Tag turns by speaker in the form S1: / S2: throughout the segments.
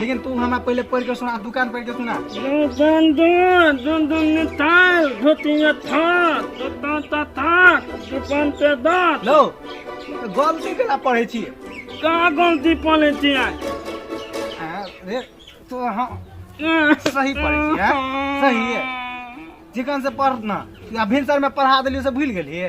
S1: लेकिन तू हमरा पहले पढ़ के सुना दुकान पढ़ के सुना दन दन दन दन ने ताल धोतिया था तो ता ता था दुकान पे दात लो गलती केना पढ़े छी का गलती पले छी आ, रे तो हाँ सही पढ़े छी हैं? सही है चिकन से पढ़ ना या भिनसर में पढ़ा देलियो से भूल गेलिए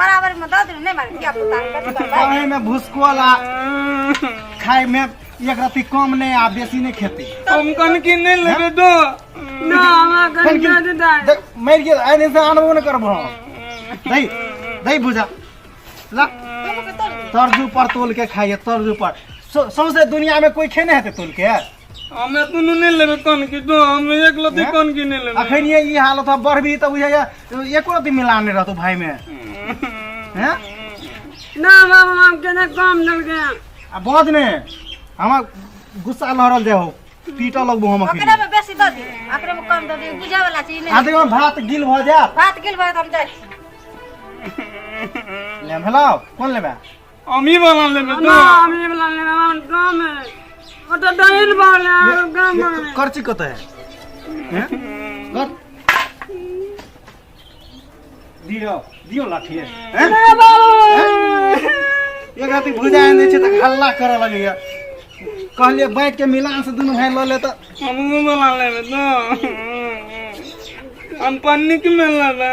S1: बराबर में दऽ देबै नहि मारे धिया पुता कथी करबै खाए में भुसकोल आ खाए में एक रत्ती कम नहीं आ बेसी नहीं खेती हम कन की नहीं लेबे दो ना हमरा कन की दे दे देख, मर गेल आइ दिन से आनबो ने करबो दही दही बुझा ला तर्जू पर तोल के खाइए तर्जू पर सौ- सौंसे दुनिया में कोई खेने हेतै तोल के हम एतनो नहि लेबै कन की दो हम एक लती हैं? कन की नहि लेबै अखन ये ई हालत है बढ़बी तऽ बुझाइया एको रति मिलान नहि रहतौ भाय में हैं? ना बाबा हम केना काम देलकै आ बज ने हमरा गुस्सा लहरल जाए हो पीटऽ लगबो हम अखन ओकरा में बेसी दऽ दियौ ओकरा में कम दऽ दियौ बुझे वाला चीज आ नहि देखियौ भात गिल भऽ जायत बात गेल बात हम जाइ छी ले भेलौ कोन लेबै हम ई वाला लेबे ना हम ई वाला लेबे हम गांव में ओ तो डाइन वाला गांव में करची कत है हैं? कर दियो दियो लाठी है हैं? ए बाबू एक राति भुजा आनि दै छै तऽ हल्ला करऽ लगैया कहलियै बाँटि के मिलान से दुनू भाय लऽ ले तऽ हम ई वाला लेबे ना हम पन्नी के में लेबे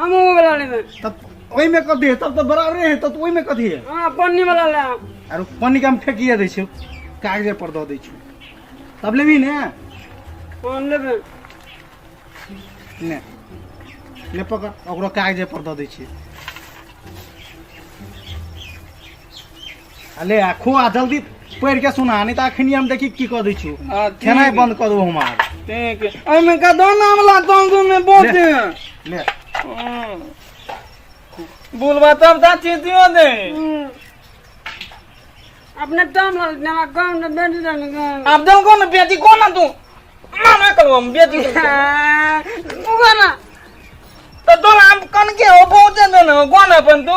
S1: हम वो वाला लेबे तब ओहि में कथी है तब तो बराबरे है तब तो ओहि में कथी है हां पन्नी वाला ले आरो पन्नी का हम फेंकिए दै छियौ कागजे पर दऽ दै छियौ तब लेबही ने हम लेबे ने ले पकड़ ओकरो कागजे पर दऽ दै छियै अले आ खो आ जल्दी पढ़ि के सुना नहि तऽ अखनी हम देखी की कऽ दै छी आ, ठीक। खेनाइ बंद कऽ देबौ हमार ठीक है। एहिमे का दो नाम ला तुम तुम में बोल दे ले हम्म। बोलबा तब ता चीटियो दे अपने दम लग नवा गांव न बेटी दन गांव आब दम को ना बेटी को ना तू मामे करो हम बेटी को। तू गाना तो दो नाम कन के हो बहुत दे ना कौन अपन तू